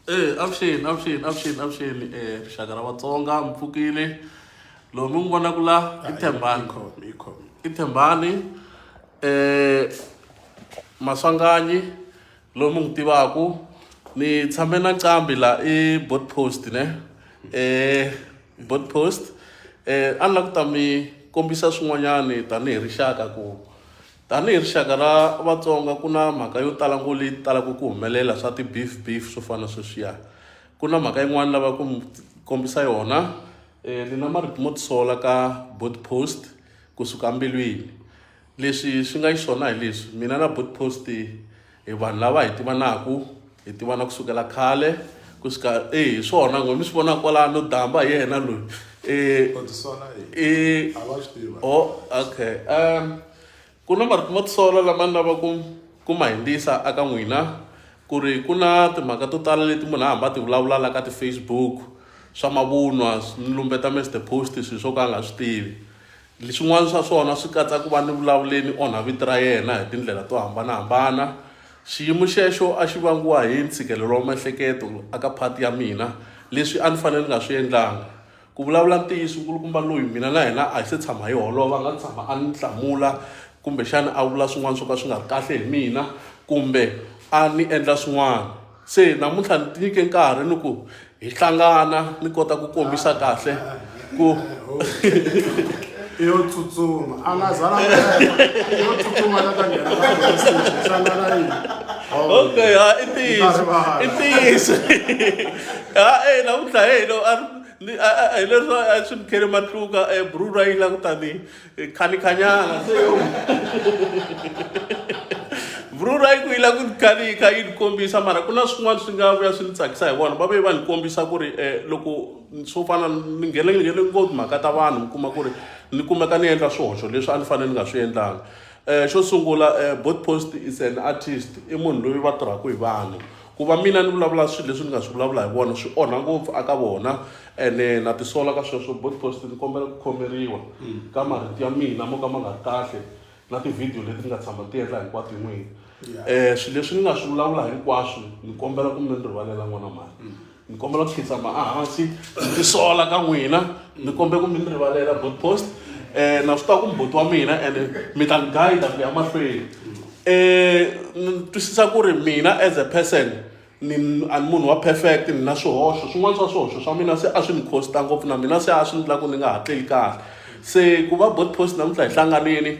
Eh, avuxeni avuxeni avuxeni avuxeni eh rixaka ra vatsonga mi pfukile loyi mi n'wi vonaka la i thembani Ikhomi, ikhomi. i thembani eh maswanganyi loyi mi n'wi tivaku ni tshame na nqambi la i bot post ne eh bot post eh a ni la ku ta mi kombisa swin'wanyani tanihi rixaka ku Tanihi rixaka ra Vatsonga ku na mhaka yo tala ngo leyi talaka ku humelela swa ti beef beef swo fana sweswiya. Ku na mhaka yin'wana lava ku mi kombisa yona eh, ni na marito mo tisola ka board post kusuka mbilwini. Leswi swi nga xiswona hi leswi mina na board post Hi vanhu lava hi tivanaku, hi tivana ku sukela khale ku suka e hi swona ngo mi swi vona kwalano damba hi yena loyi e e oh okay um ku na marito mo tisola lama ni lava ku ku ma hindzisa aka n'wina ku ri ku na timhaka to tala leti munhu a hamba ti vulavula la ka ti-facebook swa mavunwa ni lumbeta mr post swilo swo ka a nga swi tivi Leswin'wana swa swona swi katsa ku va ni vulavuleni onha vito ra yena hi tindlela to hambana-hambana. Xiyimo xexo a xi vangiwa hi ntshikelelo wa miehleketo aka phati ya mina, leswi a ni fanele ni nga swi endlanga. Ku vulavula ntiyiso, nkulukumba loyi mina na yena a hi se tshama hi holova a nga tshama a ni hlamula kumbexana a vula swin'wana swo ka swi nga ri kahle hi mina kumbe a ni endla swin'wana. Se namuntlha ni tinyike nkarhi ni ku hi hlangana ni kota ku kombisa kahle ku yo tsutsuma a nga zala yo tsutsuma la ka nghena ka message hlangana yini okay ha i ntiyiso i ntiyiso ha e namuntlha he lo a hi leswi a swi ni khele matluka e brura yi langutani Eh, khanikanyanga se vruru a yi ku yi la ku khani yi kha yi ni kombisa mara ku na swin'wana swi nga vuya swi ni tsakisa hi vona va ve va ni kombisa ku ri um loko swo fana ni nghene ni nghene ngopfu mhaka ta vanhu mi kuma ku ri ni kumeka ni endla swihoxo leswi a ni fanele ni nga swi endlanga um xo sungula um eh, bot post is an artist i munhu loyi va tirhaka hi vanhu ku va mina ni vulavula swilo leswi ni nga swi vulavula hi vona swi onha ngopfu aka vona ene na tisola ka sweswo botpost ni kombela ku khomeriwa ka marito ya mina mo ka ma nga ri kahle na tivhidiyo leti ni nga tshama ni ti endla hinkwato hi n'wina um swilo leswi ni nga swi vulavula hinkwaswo ni kombela ku mi ni rivalela n'wana mhani ni kombela ku khidzama ehansi ni tisola ka n'wina ni kombe ku mi ni rivalela good post um na swi tiva ku mbhoti wa mina and mi ta ni guida ku ya mahlweni um ni twisisa ku ri mina as a person ni a ni munhu wa perfect ni na swihoxo swin'wana swa swihoxo swa mina se a swi ni costa ngopfu na mina se a swi ni lava ku ni nga ha tleli kahle se ku va board post namuntlha hi hlanganile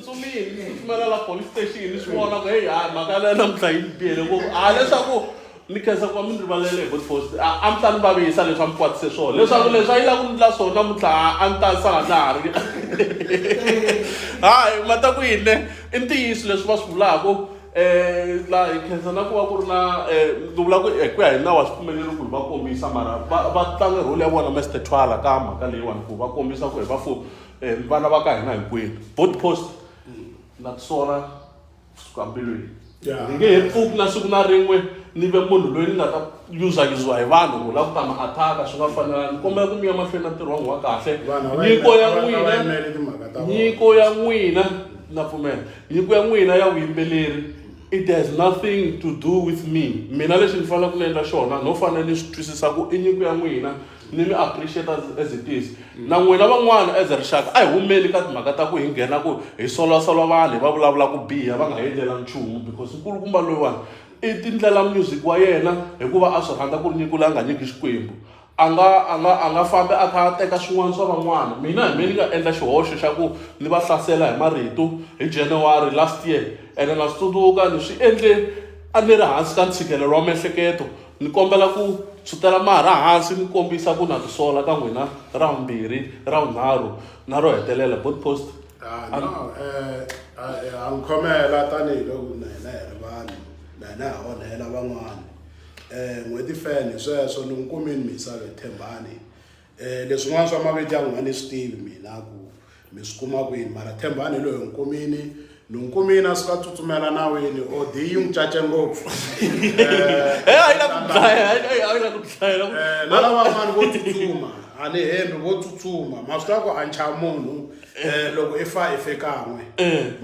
tsutsumile ku tsutsumela la police station ni swi vona ku heyi hayi mhaka leyo namuntlha yi ni biyele ngopfu a leswaku ni khensa ku va mi ni rivalele hi body post a a mi ta ni vavisa leswi a mi kwatise swona leswaku leswi a yi la ku ndla swona namuntlha a- a ni ta sala na ha ri hayi ma ta ku yini ne i ntiyiso leswi va swi vulaka um la hi khensa na ku va ku ri na um ni vula ku hi ku ya hi nawu wa swipfumelelo ku hi va kombisa mara va va tlange role ya vona mester twala ka mhaka leyiwani ku va kombisa ku hi va fo eh, vana va ka hina hinkwenu board post na tisola kusuka mbilwini Yeah. ni nge he pfuki na siku na rin'we ni ve munhu loyi ni nga ta yuzayuziwa hi vanhu ku lava ku ta ma athaka swi nga fanelanga ni kombela ku mi ya mahlweni na ntirho wa n'wi wa kahle Vanhu a va nyiko ya yimela- a va- a va n'wina yimeli timhaka ta vona. nyiko ya n'wina na pfumela nyiko ya n'wina ya vuyimbeleri it has nothing to do with me mina lexi ni faneleke ni endla xona no fanele ni swi twisisa ku i nyiko ya n'wina ni mi appreciate as, as it is mm. na n'wina van'wana as rixaka a hi humeli ka timhaka ta ku hi nghena ku hi solwasolwa vanhu hi va vulavula ku biha va nga hi endlela nchumu because nkulukumba loyiwani i tindlela music wa yena hikuva a swi rhandza ku ri nyikula a nga nyiki xikwembu a nga a nga a nga fambi a kha a teka swin'wana swa van'wana mina hi me ni nga endla xihoxo xa ku ni va hlasela hi marito hi january last year ene na swi tsundzuka ni swi endle a ni ri hansi ka ntshikelelo wa miehleketo Ni kombela ku tshwutela marha hansi ni kombisa ku na tisola ka n'wina ra vumbirhi ra vunharhu na ro hetelela both post Ah, no, eh, ah, eh, ha n'wi khomela tanihiloko na hina hi ri vanhu na hina ha onhela van'wana um n'hweti fene sweswo ni n'wi kumini misave thembani Eh, leswin'wana swa maviti ya n'wina ni swi tivi mina ku mi swi kuma kwini mara thembani hi loyi nkumini nonkumini a suka tsutsumela nawini od yi n'wi cace ngopfu na lavan'wani vo tsutsuma a ni hembi vo tsutsuma ma swi tiva ku a ncha munhu um loko i fa i fe kan'we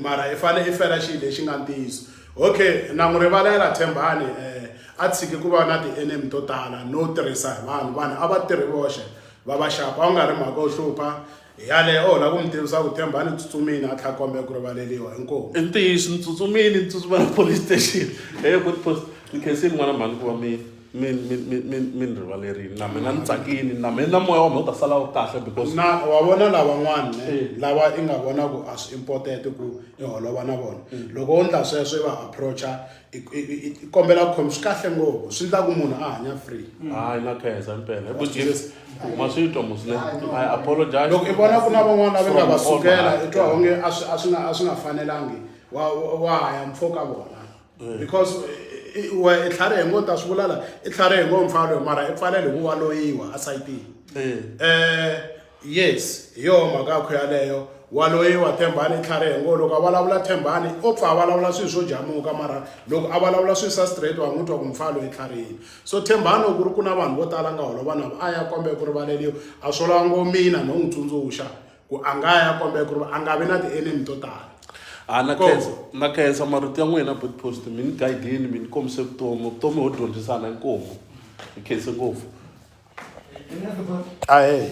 mara i fanele i fela xilo lexi nga ntiyiso Okay, na n'wi rivalela Thembani eh, a tshiki ku va na ti-enemy to tala no tirhisa hi vanhu vanhu a va tirhi voxe va va xapa a wu nga ri mhaka u hlupha hi yaleyo o lava ku mi tivisa ku Thembani tsutsumini a tlha kombela ku rivaleliwa inkomu i ntiyiso ni tsutsumile ni tsutsumela police station eyo good post ni khensile n'wana mhani ku va mina mi mi mi mi mi ni rivalerini na mina ni tsakini na mina na moya wa mina u ta sala wu kahle because na wa vona lavan'wana Eh. lava i nga vona ku a swi important ku i holova na vona Mm. loko wo ndla sweswo i va approacha i i- i- i kombela ku khomi swi kahle ngopfu swi ndla ku munhu a hanya free hayi na khensa impela Hi ku Jesu. ma swi twa musine i apologize loko i vona ku na van'wana lava nga va From all sukela heart. i twa onge a swi a swi nga a swi nga fanelangi wa wa- wa haya mpfhuka vona eh. because we i tlhari hi ngo ta swi vula la i tlhari hi ngo mpfalo mara i pfalele ku waloyiwa a sayitini eh. eh yes hi yoho mhaka yakho yaleyo waloyiwa thembani i tlhari hi ngo loko a vulavula thembani o pfa a vulavula swilo swo jamuka mara loko a vulavula swilo swa straight wa n'wi twa ku mpfalo i tlharini so thembani loko ku ri ku na vanhu vo tala nga holova navo a ya kombe ku rivaleliwa a swo lava ngo mina no n'wi tsundzuxa ku a nga ya kombela ku ri a nga vi na ti-enemy to tala a ah, na khensa na khensa marito ya n'wina bit post mi ni guidini mi ni kombise vutomi vutomi ho dyondzisana inkomu hi khense ngopfu ahe